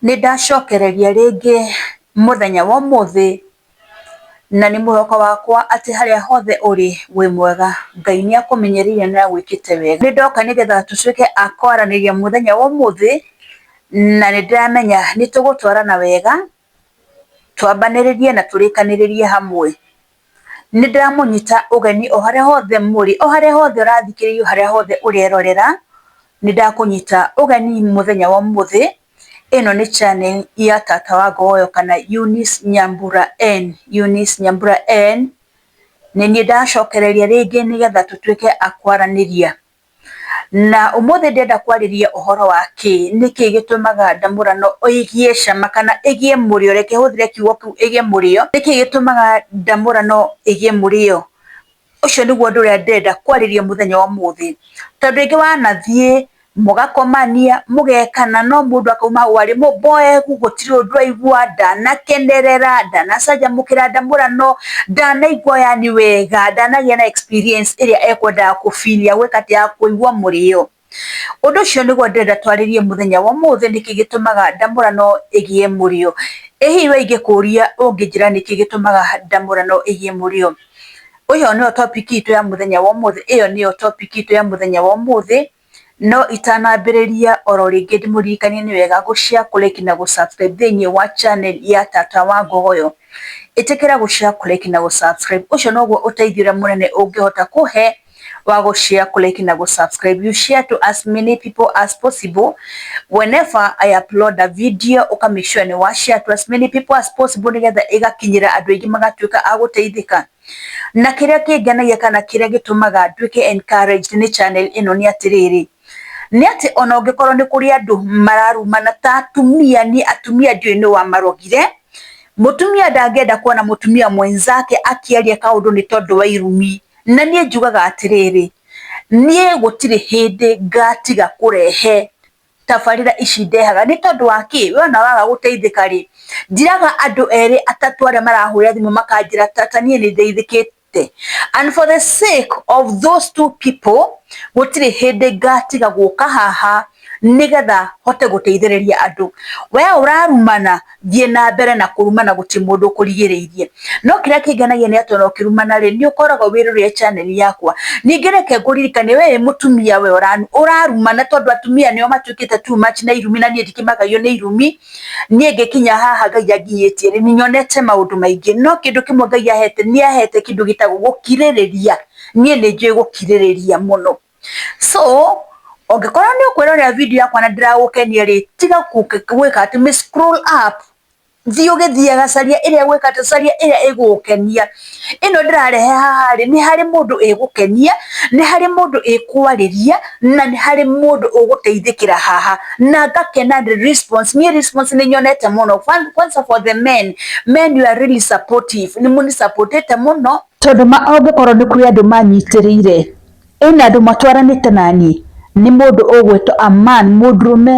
Nĩ ndacokereria rĩngĩ mũthenya wa ũmũthĩ, na nĩ mwĩhoko wakwa atĩ harĩa hothe ũrĩ wĩ mwega. Ngai nĩ akũmenyereire na agwĩkĩte wega. Nĩ ndoka nĩgetha tũtuĩke a kwaranĩria mũthenya wa ũmũthĩ, na nĩ ndĩramenya nĩ tũgũtwarana wega, twambanĩrĩrie na tũrĩkanĩrĩrie hamwe. Nĩ ndĩramũnyita ũgeni o harĩa hothe mũrĩ, o harĩa hothe ũrathikĩrĩria, o harĩa hothe ũrerorera, nĩ ndakũnyita ũgeni mũthenya wa ũmũthĩ. Ĩno nĩ channel ya Tata wa Ngogoyo kana Eunice Nyambura N. Eunice Nyambura N. Nĩ niĩ ndacokereria rĩngĩ nĩgetha tũtuĩke a kwaranĩria. Na ũmũthĩ ndĩrenda kwarĩria ũhoro wa kĩĩ, nĩ kĩĩ gĩtũmaga ndamũrano ĩgĩe cama kana ĩgĩe mũrĩo, reke hũthĩre kiugo kĩu ĩgĩe mũrĩo, nĩ kĩĩ gĩtũmaga ndamũrano ĩgĩe mũrĩo? Ũcio nĩguo ũndũ ũrĩa ndĩrenda kwarĩria mũthenya wa ũmũthĩ. Tondũ rĩngĩ wanathiĩ, mũgakomania, mũgekana, no mũndũ akauma hau arĩ mũmboeku, gũtirĩ ũndũ aigua, ndanakenerera, ndanacanjamũkĩra ndamũrano, Ndanaigua yani wega, ndanagĩa na experience ĩrĩa ekwendaga kũ feel ya gwĩka atĩ ya kũigua mũrĩo. Ũndũ ũcio nĩguo ndĩrenda twarĩrie mũthenya wa ũmũthĩ nĩkĩ gĩtũmaga ndamũrano ĩgĩe mũrĩo. Ĩ hihi we ingĩkũria ũngĩnjĩra nĩkĩ gĩtũmaga ndamũrano ĩgĩe mũrĩo? Ĩyo nĩyo topic itũ ya mũthenya wa ũmũthĩ, ĩyo nĩyo topic itũ ya mũthenya wa ũmũthĩ. No itanambĩrĩria oro rĩngĩ ndĩmũririkanie nĩ wega gũ share, kũ like na gũ subscribe thĩinĩ wa channel ya Tata wa Ngogoyo. Ĩtĩkĩra gũ share, kũ like na gũ subscribe. Ũcio noguo ũteithio ũrĩa mũnene ũngĩhota kũhe wa gũ share, kũ like na gũ subscribe. You share to as many people as possible. Whenever I upload a video, ũka make sure nĩ wa share to as many people as possible nĩgetha ĩgakinyĩra andũ aingĩ magatuĩka a gũteithĩka. Na kĩrĩa kĩngenagia kana kĩrĩa gĩtũmaga nduĩke encouraged nĩ channel ĩno nĩ atĩrĩrĩ, nĩ atĩ ona ũngĩkorwo nĩ kũrĩ andũ mararumana ta atumia, niĩ atumia ndiũĩ nũ wamarogire, mũtumia ndangĩenda kuona mũtumia mwenzake akĩaria kaũndũ nĩ tondũ wa irumi. Na niĩ njugaga atĩrĩrĩ, niĩ gũtirĩ hĩndĩ ngatiga kũrehe tabarĩra ici ndehaga nĩ tondũ wa kĩ? We ona waga gũteithĩka rĩ, njĩraga andũ erĩ atatũ arĩa marahũra thimũ makanjĩra tata niĩ nĩ ndeithĩkĩte. And for the sake of those two people, gũtirĩ hĩndĩ ngatiga gũka haha nĩgetha hote gũteithĩrĩria andũ. We ũrarumana. thiĩ na mbere na kũrumana gũtirĩ mũndũ ũkũrigĩrĩirie no kĩrĩa kĩngenagia nĩ atĩ ona ũkĩrumana rĩ nĩ ũkoragwo wĩrorere channel yakwa ningĩ reke ngũririkanie we wĩ mũtumia we ũra- ũrarumana tondũ atumia nĩo matuĩkĩte too much na irumi na niĩ ndikĩmakagio nĩ irumi niĩ ngĩkinya haha ngai anginyĩtie rĩ nĩ nyonete maũndũ maingĩ no kĩndũ kĩmwe ngai ahete nĩ ahete kĩndũ gĩtagwo gũkirĩrĩria niĩ nĩ njũĩ gũkirĩrĩria mũno so ũngĩkorwo nĩ ũkwĩrorera video yakwa na ndĩragũkenia rĩ tiga gwĩka atĩ mĩ scroll up thiĩ ũgĩthiaga caria ĩrĩa gwĩka atĩ caria ĩrĩa ĩgũgũkenia, ĩno ndĩrarehe haha rĩ nĩ harĩ mũndũ ĩgũkenia, nĩ harĩ mũndũ ĩkwarĩria na nĩ harĩ mũndũ ũgũteithĩkĩra haha na ngakena nĩ response niĩ response nĩ nyonete mũno kwanza for the men, men you are really supportive nĩ mũnĩ support ĩte mũno tondũ ũngĩkorwo nĩ kũrĩ andũ manyitĩrĩire Ĩna andũ matwaranĩte na niĩ nĩ mũndũ ũgwĩtwo Aman, mũndũrũme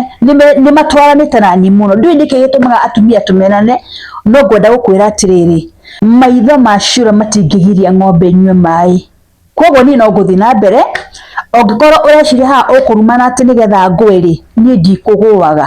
nĩ matwaranĩte na niĩ mũno, ndiũĩ nĩkĩ gĩtũmaga atumia tũmenane, no ngwenda gũkwĩra atĩrĩrĩ, maitho ma ciũra matingĩgiria ng'ombe ĩnyue maĩ, kogwo niĩ no ngũthiĩ na mbere, ũngĩkorwo ũreciria haha ũkũrumana atĩ nĩgetha ngwe rĩ, niĩ ndikũgũaga.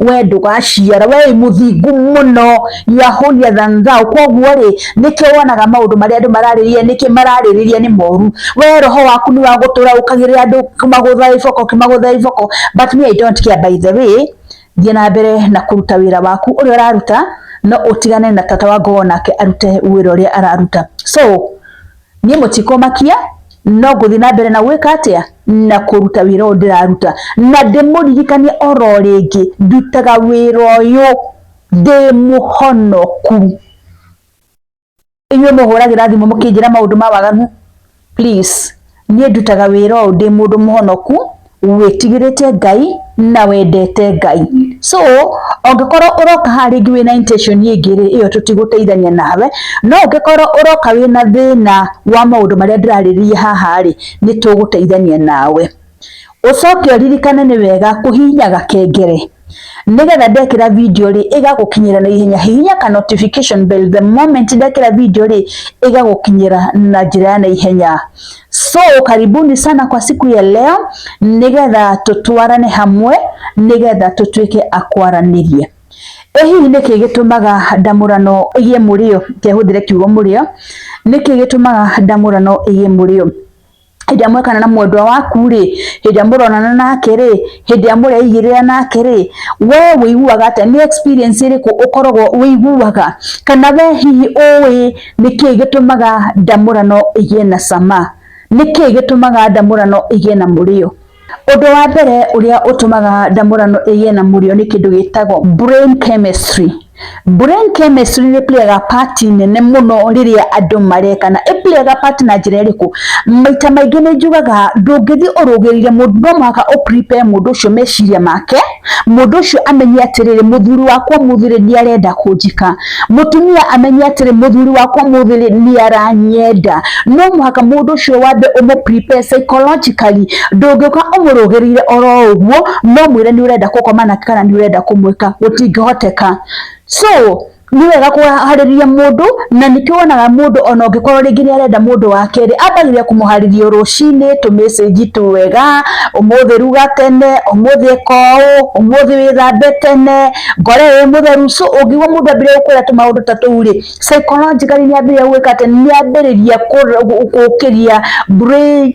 we ndũgaciara we wĩ mũthingu mũno you are holier than thou koguo rĩ nĩkĩo wonaga maũndũ marĩa andũ mararĩrĩria nĩkĩ mararĩrĩria nĩ moru we roho waku nĩ wa gũtũra ũkagĩrĩra andũ kĩmagũtha iboko kĩmagũtha iboko but me I don't care by the way thiĩ na mbere na kũruta wĩra waku ũrĩa ũraruta no ũtigane na tata wa ngogo nake arute wĩra ũrĩa araruta so niĩ mũtikũmakia no ngũthiĩ na mbere na gwĩka atĩa na kũruta wĩra ũyũ ndĩraruta na ndĩmũririkanie oro rĩngĩ ndutaga wĩra ũyũ ndĩ mũhonoku inyuĩ mũhũragĩra thimũ mũkĩnjĩra maũndũ ma waganu please niĩ ndutaga wĩra ũyũ ndĩ mũndũ mũhonoku. wĩtigĩrĩte Ngai na wendete Ngai. So ũngĩkorwo ũroka haha rĩngĩ wĩna intention ĩngĩ rĩ, ĩyo tũtigũteithania nawe, no ũngĩkorwo ũroka wĩna thĩna wa maũndũ marĩa ndĩrarĩrĩria haha rĩ, nĩ tũgũteithania nawe. Ũcoke ũririkane nĩ wega kũhihinya gakengere nigetha ndekira video ri igagukinyira na ihenya hihinya ka notification bell the moment ndekira video ri igagukinyira na njira ya na ihenya so karibuni sana kwa siku ya leo nigetha tutwarane hamwe nigetha tutuike akwaranirie ĩ hihi nĩkĩ gĩtũmaga ndamũrano ĩgie mũrĩo kehũthĩre kiugo mũrĩo nĩkĩ gĩtũmaga ndamũrano ĩgie mũrĩo hĩndĩ ĩrĩa mwekana na mwendwa waku rĩ hĩndĩ ĩrĩa mũronana nake rĩ hĩndĩ ĩrĩa mũreigĩrĩra nake rĩ we wĩiguaga atĩa nĩ experience ĩrĩkũ ũkoragwo wĩiguaga kana we hihi ũĩ nĩkĩĩ gĩtũmaga ndamũrano ĩgĩe na cama nĩkĩĩ gĩtũmaga ndamũrano ĩgĩe na mũrĩo. Ũndũ wa mbere ũrĩa ũtũmaga ndamũrano ĩgĩe na mũrĩo nĩ kĩndũ gĩtagwo brain chemistry. Brain chemistry nĩ playaga part nene mũno rĩrĩa andũ marekana. Ĩ playaga part na njĩra ĩrĩkũ? Maita maingĩ nĩ njugaga ndũngĩthiĩ ũrũgĩrĩire mũndũ no mũhaka ũ prepare mũndũ ũcio meciria make. mũndũ ũcio amenye atĩrĩrĩ mũthuri wakwa mũthirĩ nĩ arenda kũnjika mũtumia amenye atĩrĩ mũthuri wakwa mũthirĩ nĩ aranyenda no mũhaka mũndũ ũcio wambe ũmũ prepare psychologically ndũngĩũka ũmũrũgĩrĩire oro ũguo no mwĩre nĩ ũrenda gũkoma nake kana nĩ ũrenda kũmwĩka gũtingĩhoteka so nĩ wega kũharĩria mũndũ na nĩkĩo wonaga mũndũ ona ũngĩkorwo rĩngĩ nĩ arenda mũndũ wa kerĩ ambagĩrĩria kũmũharĩria rũcinĩ tũmecĩnji twega, ũmũthĩ ruga tene, ũmũthĩ ĩka ũũ, ũmũthĩ wĩthambe tene, ngore wĩ mũtheru. So ũngĩigua mũndũ ambĩrĩria gũkwĩra tũmaũndũ ta tũu rĩ, psychologically nĩ ambĩrĩria gwĩka atĩ, nĩ ambĩrĩria gũkĩria brain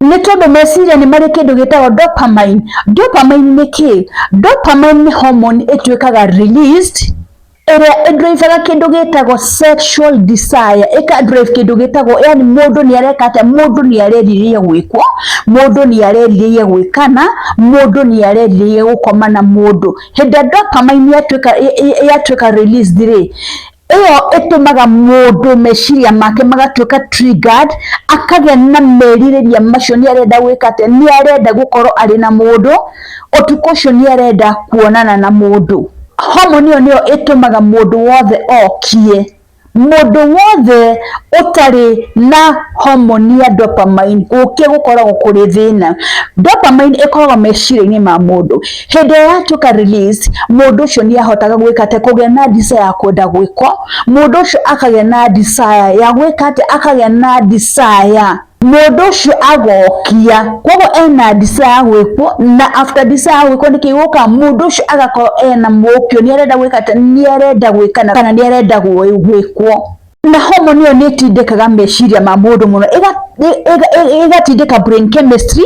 nĩ tondũ meciria nĩ marĩ kĩndũ gĩtagwo dopamine. Dopamine nĩ kĩ? Dopamine nĩ hormone ĩtuĩkaga released ĩrĩa ĩndrivaga kĩndũ gĩtagwo sexual desire, ĩkandrive kĩndũ gĩtagwo yani mũndũ nĩ areka atĩa, mũndũ nĩ arerirĩria gwĩkwo, mũndũ nĩ arerirĩria gwĩkana, mũndũ nĩ arerirĩria gũkoma na mũndũ. Hĩndĩ ĩrĩa dopamine yatuĩka released rĩ, ĩyo ĩtũmaga mũndũ meciria make magatuĩka triggered, akagĩa na merirĩria macio nĩ arenda gwĩka atĩa, nĩ arenda gũkorwo arĩ na mũndũ, ũtukũ ũcio nĩ arenda kuonana na mũndũ. Hormone ĩyo nĩyo ĩtũmaga mũndũ wothe okie. Mũndũ wothe ũtarĩ na hormone ya dopamine gũkĩa gũkoragwo kũrĩ thĩna. Dopamine ĩkoragwo meciria-inĩ ma mũndũ. Hĩndĩ ĩrĩa yatuĩka release, mũndũ ũcio nĩ ahotaga gwĩka atĩ kũgĩa na desire ya kwenda gwĩkwo, mũndũ ũcio akagĩa na desire ya gwĩka atĩ akagĩa na desire mũndũ ũcio agokia koguo ena desire ya gwĩkwo na after desire ya gwĩkwo nĩkĩ gĩgũkaga mũndũ ũcio agakorwo ena mũkio nĩ arenda gwĩka atĩ nĩ arenda gwĩkana kana nĩ arenda gwĩkwo. na homoni ĩyo nĩ ĩtindĩkaga meciria ma mũndũ mũno ĩga- ĩ- ĩga- ĩ- ĩgatindĩka brain chemistry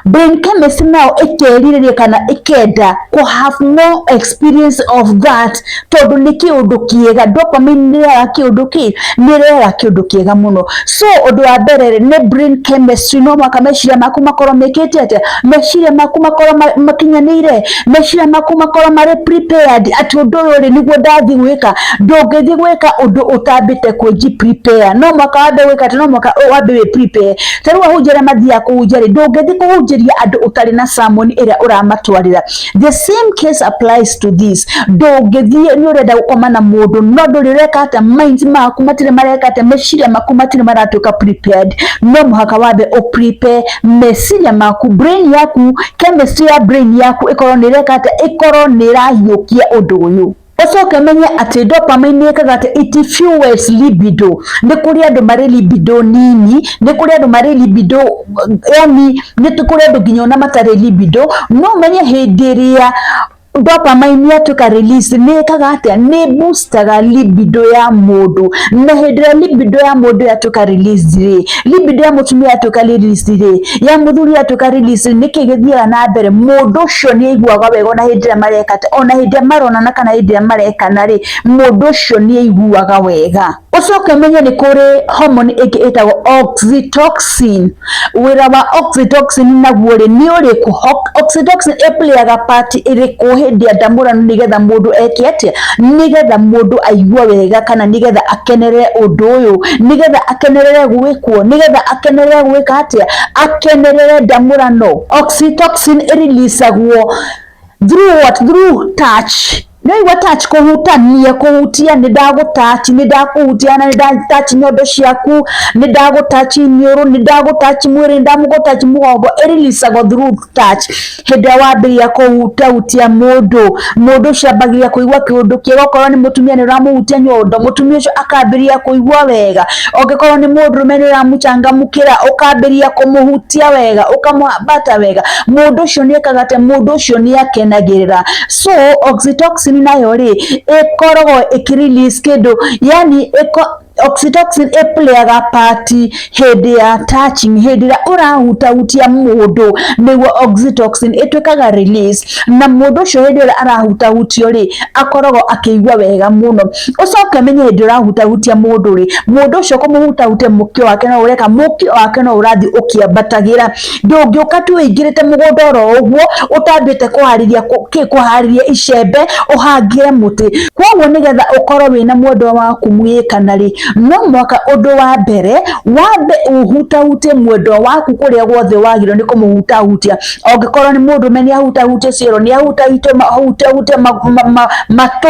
brain chemistry nayo ĩkerirĩria kana ĩkenda kũ have more experience of that tondũ nĩ kĩũndũ kĩega dopamine nĩ ĩrehaga kĩũndũ kĩ nĩ ĩrehaga kĩũndũ kĩega mũno so ũndũ wa mbere rĩ nĩ brain chemistry no mũhaka meciria maku makorwo mekĩte atĩa meciria maku makorwo ma- makinyanĩire meciria maku makorwo marĩ prepared atĩ ũndũ ũyũ rĩ nĩguo ndathiĩ gwĩka ndũngĩthiĩ gwĩka ũndũ ũtambĩte kwĩnji prepare no mwaka wambe gwĩka atĩ no mwaka ũyũ wambe wĩ prepare ta rĩu ahunjia arĩa mathiaga kũhunjia rĩ ndũngĩthiĩ kũhunjĩria andũ ũtarĩ na sermon ĩrĩa ũramatwarĩra the same case applies to this ndũngĩthiĩ nĩ ũrenda gũkoma na mũndũ no ndũrĩ ũreka atĩa minds maku matirĩ mareka atĩa meciria maku matirĩ maratuĩka prepared no mũhaka wambe ũ prepare meciria maku brain yaku chemistry ya brain yaku ĩkorwo nĩ ĩreka atĩa ĩkorwo nĩ ĩrahiũkia ũndũ ũyũ ũcoke menye atĩ dopamine nĩ ĩkaga atĩ it fuels libido nĩ kũrĩ andũ marĩ libido nini nĩ kũrĩ andũ marĩ libido yani nĩ kũrĩ andũ nginya ona matarĩ libido no menye hĩndĩ ĩrĩa dopamine yatuĩka release nĩ ĩkaga atĩa nĩ boostaga libido ya mũndũ na hĩndĩ ĩrĩa libido ya mũndũ yatuĩka release rĩ libido ya mũtumia yatuĩka release rĩ ya mũthuri yatuĩka release rĩ nĩkĩ gĩthiaga na mbere mũndũ ũcio nĩ aiguaga wega ona hĩndĩ ĩrĩa mareka atĩa ona hĩndĩ ĩrĩa maronana kana hĩndĩ ĩrĩa marekana rĩ mũndũ ũcio nĩ aiguaga wega. Ũcoke ũmenye nĩ kũrĩ hormone ĩngĩ ĩtagwo oxytocin. Wĩra wa oxytocin naguo rĩ nĩ ũrĩkũ? Oxytocin ĩ play aga part ĩrĩkũ hĩndĩ ya ndamũrano nĩgetha mũndũ eke atĩa? Nĩgetha mũndũ aigue wega kana nĩgetha akenerere ũndũ ũyũ, nĩgetha akenerere gwĩkwo, nĩgetha akenerere gwĩka atĩa? Akenerere ndamũrano. Oxytocin ĩ release agwo Through what? Through touch. Nĩwaigua touch kũhutania, kũhutia, nĩ ndagũ touch, nĩ ndakũhutia na nĩ nda touch nyondo ciaku, nĩ ndagũ touch iniũrũ, nĩ ndagũ touch mwĩrĩ, nĩ ndamũ touch mũgongo, ĩ release agwo through touch. Hĩndĩ ĩrĩa wambĩrĩria kũhutahutia mũndũ, mũndũ ũcio ambagĩrĩria kũigua kĩũndũ kĩega, okorwo nĩ mũtumia nĩ ũramũhutia nyondo, mũtumia ũcio akambĩrĩria kũigua wega, angĩkorwo nĩ mũndũrũme nĩ ũramũcangamũkĩra, ũkambĩrĩria kũmũhutia wega, ũkamũhambata wega. mundu ucio ni ekaga tä mundu ucio ni akenagä ra so oxytocin nayo rä ĩkoragwo ĩkĩrelease kĩndũ yani iko oxytocin ĩplayaga pati hĩndĩ ya touching hĩndĩ ĩrĩa ũrahutahutia mũndũ nĩguo oxytocin ĩtuĩkaga release na mũndũ ũcio hĩndĩ ĩrĩa arahutahutio rĩ akoragwo akĩigua wega mũno ũcoke menye hĩndĩ ũrahutahutia mũndũ rĩ mũndũ ũcio kũmũhutahutia mũkio wake no ũreka mũkio wake no ũrathiĩ ũkĩambatagĩra ndũngĩũka tu wĩingĩrĩte mũgũnda oro ũguo ũtambĩte kũharĩria kũharĩria icembe ũhangĩre mũtĩ kwoguo nĩgetha ũkorwo wĩna mwendwa waku mũgĩkana rĩ no mwaka ũndũ wa mbere wambe ũhutahutie mwendwa waku kũrĩa guothe wagĩrĩirwo nĩ kũmũhutahutia ongĩkorwo nĩ mũndũme nĩ ahutahutie ciero nĩ ahutahutie matũ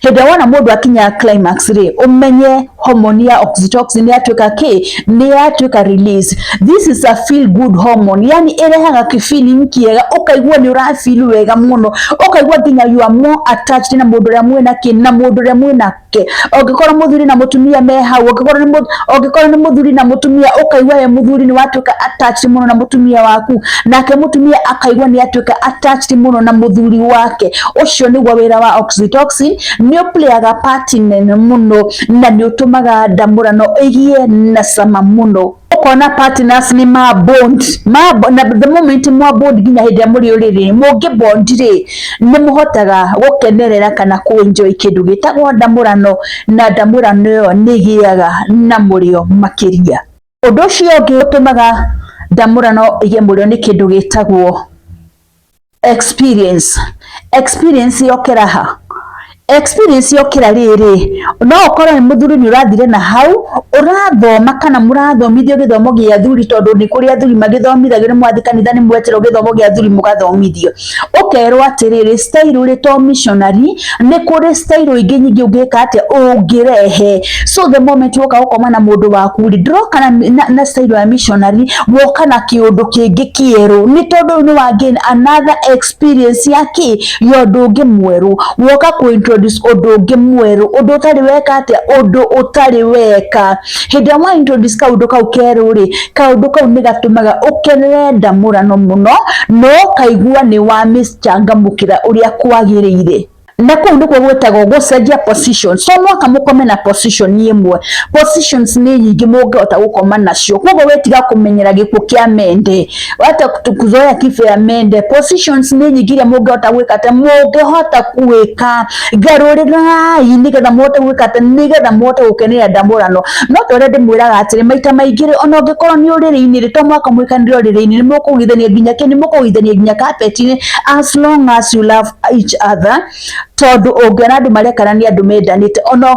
Hĩndĩ ĩrĩa wona mũndũ akinya climax rĩ, ũmenye hormone ya oxytocin yatuĩka kĩ, nĩ yatuĩka release. This is a feel good hormone, yani ĩrehaga ki feeling kĩega, ũkaigua nĩ ũra feel wega mũno, ũkaigua nginya you are more attached na mũndũ ũrĩa mwĩna kĩ, na mũndũ ũrĩa mwĩna wake ũngĩkorwo mũthuri na mũtumia me hau ũngĩkorwo nĩ ũngĩkorwo nĩ mũthuri na mũtumia ũkaigua we mũthuri nĩ watuĩka attached mũno na mũtumia waku nake mutumia akaigua ni atuika attached muno na muthuri wake ucio niguo wira wa oxytocin ni uplayaga part nene muno na ni utumaga ndamurano igie na cama muno ukona partners ni ma bond ma na the moment mwa bond nginya hindi ya muri uriri mungi bond ri ni muhotaga gukenerera kana ku enjoy kindu gitagwo ndamurano na ndamurano yo ni giaga na murio makiria Ũndũ ũcio ũngĩ ũtũmaga ndamũrano ĩgemũrĩo nĩ kĩndũ gĩtagwo experience. Experience yokĩra ha? Experience yokĩra rĩrĩ, no ũkorwo wĩ mũthuri nĩ ũrathire na hau, ũrathoma kana mũrathomithio gĩthomo gĩa athuri tondũ nĩ kũrĩ athuri magĩthomithagio, nĩ mwathiĩ kanitha nĩ mweterwo gĩthomo gĩa athuri mũgathomithio. ũkerwo atĩrĩrĩ stairũ rĩ to missionary nĩ kũrĩ stairũ ingĩ nyingĩ ũngĩka atĩa ũngĩrehe so the moment woka gũkoma na mũndũ waku rĩ ndũroka na, na, na stairũ ya missionary woka na kĩũndũ kĩngĩ kĩerũ nĩ tondũ ũyũ nĩ wa gain another experience ya kĩ ya ũndũ ũngĩ mwerũ woka kũ introduce ũndũ ũngĩ mwerũ ũndũ ũtarĩ weka atĩa ũndũ ũtarĩ weka hĩndĩ ĩrĩa mwa introduce kaũndũ kau kerũ rĩ kaũndũ kau nĩ gatũmaga ũkenere ndamũrano mũno no kaigua nĩ wa miss changamũkĩra ũrĩa kwagĩrĩire na kũu nĩkuo gwĩtagwo gũcenjia position so no kamũkome na position ĩmwe positions nĩ nyingĩ mũngĩhota gũkoma nacio koguo wĩtiga kũmenyera gĩkuũ kĩa mende wate kuzoya kifo ya mende positions ni nyingi iria mungihota gwika ati mungihota gwika garurirai nigetha muhote gwika ati nigetha muhote gukenera ndamurano no ta uria ndimwiraga atiri maita maingi ri ona ungikorwo ni uriri-ini ri to mwaka mwikanire uriri-ini ni mukugithania nginya ki ni mukugithania nginya kapeti-ini as long as you love each other tondu ungiona andu marekarania andu mendanite ona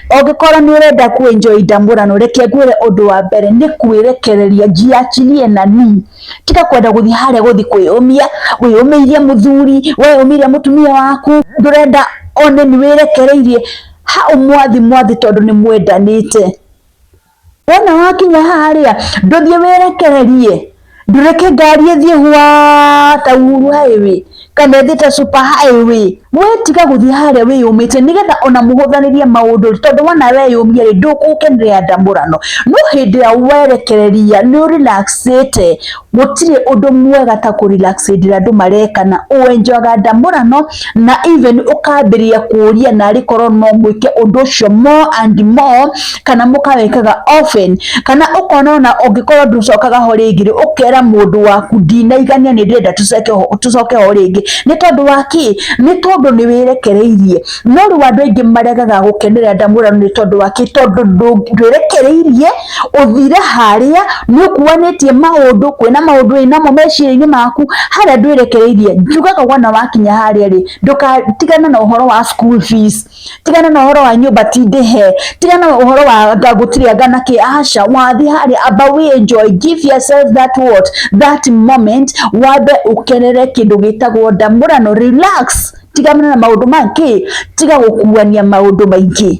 Ũngĩkorwo nĩ ũrenda ku enjoy ndamũrano, reke ngwĩre ũndũ wa mbere nĩ kwĩrekereria, jiachilie nanii, tiga kwenda gũthiĩ harĩa gũthiĩ kwĩyũmia, wĩyũmĩirie mũthuri, weyũmĩirie mũtumia waku, ndũrenda one nĩ wĩrekereirie, ha ũmwathi mwathi tondũ nĩ mwendanĩte. Wona wakinya haha rĩ, ndũthiĩ wĩrekererie, ndũreke ngari ĩthiĩ hwaa ta uhuru highway kana ĩthiĩ ta super highway, we tiga gũthiĩ harĩa wĩyũmĩtie nĩgetha ona mũhũthanĩrie maũndũ rĩ, tondũ wona weyũmia rĩ, ndũgũkenerera ndamũrano, no hĩndĩ ĩrĩa werekereria nĩ ũ relax ĩte. Gũtirĩ ũndũ mwega ta kũ relax hĩndĩ andũ mareka na ũ enjoyaga ndamũrano na even ũkambĩrĩria kũria narĩ korwo no mwĩke ũndũ ũcio more and more kana mũkawĩkaga often kana ũkona ona ũngĩkorwo ndũcokaga ho rĩngĩ rĩ ũkera mũndũ waku ndinaigania nĩ ndĩrenda tũcoke ho tũcoke ho rĩngĩ nĩ tondũ wa kĩ? Nĩ tondũ nĩ wĩrekereirie. No rĩu andũ aingĩ maregaga gũkenerera ndamũrano nĩ tondũ wa kĩ? Tondũ ndũ ndwĩrekereirie. ũthire harĩa nĩ ũkuanĩtie maũndũ kwĩna maũndũ wĩnamo meciria-inĩ maku harĩa ndwĩrekereirie njugaga wona wakinya harĩa rĩ ndũkatigane na ũhoro wa school fees tigana na ũhoro wa nyũmba ti ndĩhe tigana na ũhoro wa anga gũtirĩ anga na kĩ aca wathiĩ harĩa amba wĩ enjoy give yourself that what that moment wambe ũkenere kĩndũ gĩtagwo ndamũrano relax tigana na maũndũ ma kĩ tiga gũkuania maũndũ maingĩ.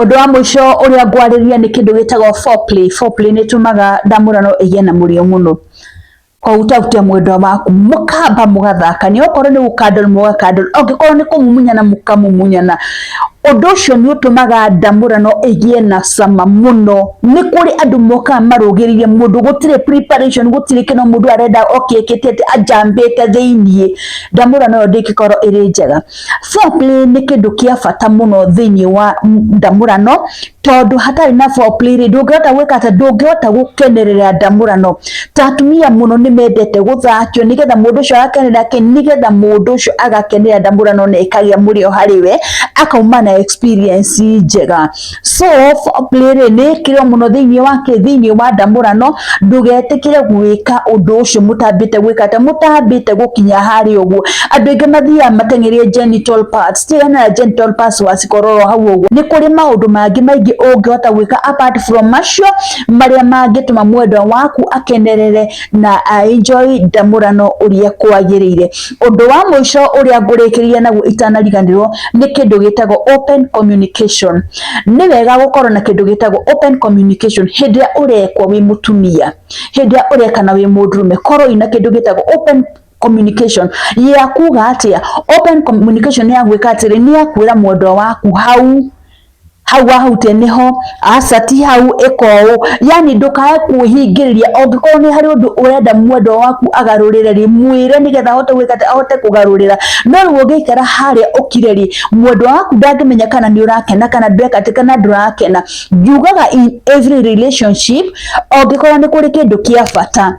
Ũndũ wa mũico ũrĩa ngwarĩria nĩ kĩndũ gĩtagwo foreplay. Foreplay nĩ ĩtũmaga ndamũrano ĩgĩe na mũrĩo mũno. Koguo ũtahutia mwendwa waku, mũkamba mũgathakania, okorwo nĩ gũkandol mũgakandol, angĩkorwo nĩ kũmumunyana mũkamumunyana. Ũndũ ũcio nĩ ũtũmaga ndamũrano ĩgĩe na cama mũno. Nĩ kũrĩ andũ mokaga marũgĩrĩire mũndũ, gũtirĩ preparation, gũtirĩ kĩndũ, mũndũ arenda oke ekĩte atĩ, anjambĩte thĩiniĩ. Ndamũrano ĩyo ndĩngĩkorwo ĩrĩ njega. Foreplay nĩ kĩndũ kĩa bata mũno thĩinĩ wa ndamũrano, tondũ hatarĩ na foreplay rĩ, ndũngĩhota gwĩka atĩ, ndũngĩhota gũkenerera ndamũrano. Ta atumia mũno nĩ mendete gũthakio nĩgetha mũndũ ũcio agakenerera kĩ? Nĩgetha mũndũ ũcio agakenerera ndamũrano na ĩkagĩa mũrĩo harĩ we, akauma na experience njega. Sof play rĩ nĩ ĩkĩrĩo mũno thĩinĩ wa kĩ thĩinĩ wa ndamũrano ndũgetĩkĩre gwĩka ũndũ ũcio mũtambĩte gwĩka atĩ mũtambĩte gũkinya harĩa ũguo andũ aingĩ mathiaga mateng'erie genital parts ti hena genital parts wacikororo hau ũguo nĩ kũrĩ maũndũ mangĩ maingĩ ũngĩhota gwĩka apart from macio marĩa mangĩtũma mwendwa waku akenerere na a enjoy ndamũrano ũrĩa kwagĩrĩire. Ũndũ wa mũico ũrĩa ngũrĩkĩrĩria naguo itanariganĩrwo nĩ kĩndũ gĩtagwo open communication. Nĩ wega gũkorwo na kĩndũ gĩtagwo open communication hĩndĩ ĩrĩa ũrekwo wĩ mũtumia, hĩndĩ ĩrĩa ũrekana wĩ mũndũrũme, korwo wĩna kĩndũ gĩtagwo open communication ya kuga atĩa, open communication nĩ ya gwĩka atĩrĩ, nĩ ya kwĩra mwendwa waku hau hau wahutia niho aca ti hau ĩka ũũ yani ndũkae kwĩhingĩrĩria ũngĩkorwo nĩ harĩ ũndũ ũrenda mwendwa waku agarũrĩre rĩ mwĩre nĩgetha ahote gwĩka atĩ ahote kũgarũrĩra no rĩu ũngĩikara harĩa ũkire rĩ mwendwa waku ndangĩmenya kana nĩ ũrakena kana ndweka atĩ kana ndũrakena njugaga in every relationship ũngĩkorwo nĩ kũrĩ kĩndũ kĩa bata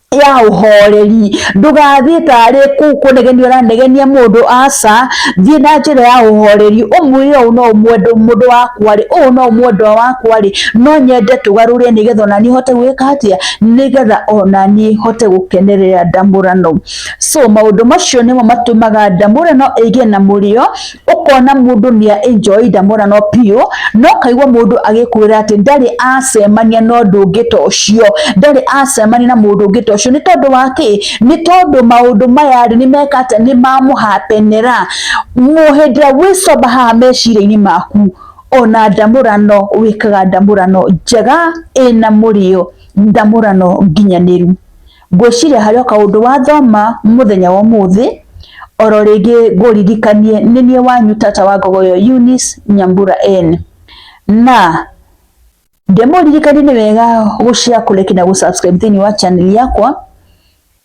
ya ũhoreri ndũgathiĩ tarĩ kũu kũnegenia ũranegenia mũndũ aca thiĩ na njĩra ya ũhoreri ũmwĩre ũũ no mwendwa mũndũ wakwa rĩ ũũ no mwendwa wakwa rĩ no nyende tũgarũre nĩgetha ona niĩ hote gwĩka atĩa nĩgetha ona niĩ hote gũkenerera ndamũrano so maũndũ macio nĩmo matũmaga ndamũrano ĩgĩe na mũrĩo ukona mundu ni enjoy ndamona no pio no kaigwa mundu agikwira ati ndari acemania no ndungi to ucio ndari acemania na mundu ungi to ucio ni tondu wa ki ni tondu maundu maya ri ni mekate ni mamuhapenera muhindira wicoba haha meciria-ini maku ona ndamurano wikaga ndamurano njega ina murio ndamurano nginyaniru Ngwĩciria harĩ o kaũndũ wathoma mũthenya wa ũmũthĩ, oro rĩngĩ ngũririkanie nĩ niĩ wanyu tata wa ngogo ĩyo Eunice Nyambura N. Na ndĩmũririkanie nĩ wega gũ share, kũ like na gũ subscribe thĩinĩ wa channel yakwa,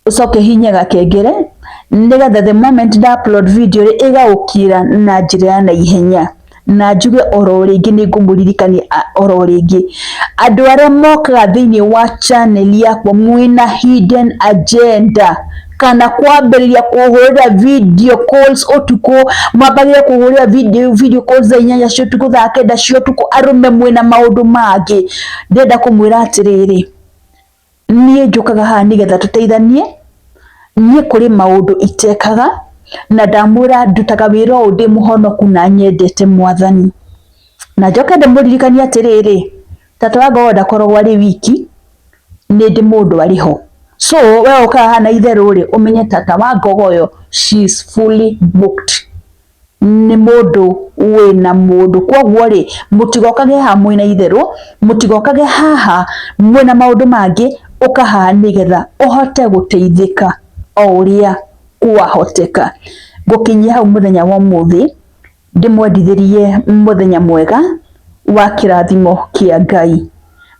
ũcoke hihinye gakengere nĩgetha the moment nda upload video rĩ ĩgagũkinyĩra na njĩra ya naihenya. na njuge oro rĩngĩ nĩ ngũmũririkania oro rĩngĩ andũ arĩa mokaga thĩinĩ wa channel yakwa mwĩna hidden agenda kana kwambĩrĩria kũhũrĩra video calls ũtukũ mwambagĩrĩria kũhũrĩra video, video calls thaa inyanya cia ũtukũ thaa kenda cia ũtukũ arũme mwĩna maũndũ mangĩ ndĩrenda kũmwĩra atĩrĩrĩ Niĩ njũkaga haha nĩgetha tũteithanie, niĩ kũrĩ maũndũ itekaga, na ndamwĩra ndutaga wĩra ũyũ ndĩ mũhonoku na nyendete mwathani. Na njoke ndĩmũririkanie atĩrĩrĩ, tata wa ngoro ndakoragwo arĩ wiki, nĩ ndĩ mũndũ arĩ ho. So we ũkaga haha na itherũ rĩ, ũmenye tata wa ngoro ũyũ she is fully booked. nĩ mũndũ wĩna mũndũ. Koguo rĩ, mũtigokage haha mwĩna itherũ, mũtigokage haha mwĩna maũndũ mangĩ, ũka haha nĩgetha ũhote gũteithĩka o ũrĩa kwahoteka. Ngũkinyia hau mũthenya wa ũmũthĩ, ndĩmwendithĩrie mũthenya mwega wa kĩrathimo kĩa Ngai.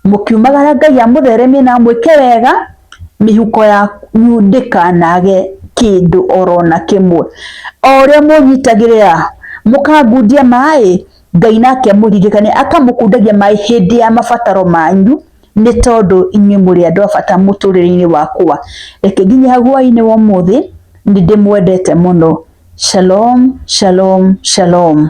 mũkiumagara Ngai amũtheremie na amwĩke wega, mĩhuko yanyu ndĩkanage kĩndũ oro na kĩmwe. O ũrĩa mũnyitagĩrĩra mũkangundia maĩ, Ngai nake amũririkania akamũkundagia maĩ hĩndĩ ya mabataro manyu, nĩ tondũ inyuĩ mũrĩ andũ a bata mũtũrĩre-inĩ wakwa. Reke nginyĩ hau hwainĩ wa ũmũthĩ, nĩ ndĩmwendete mũno. Shalom, shalom, shalom.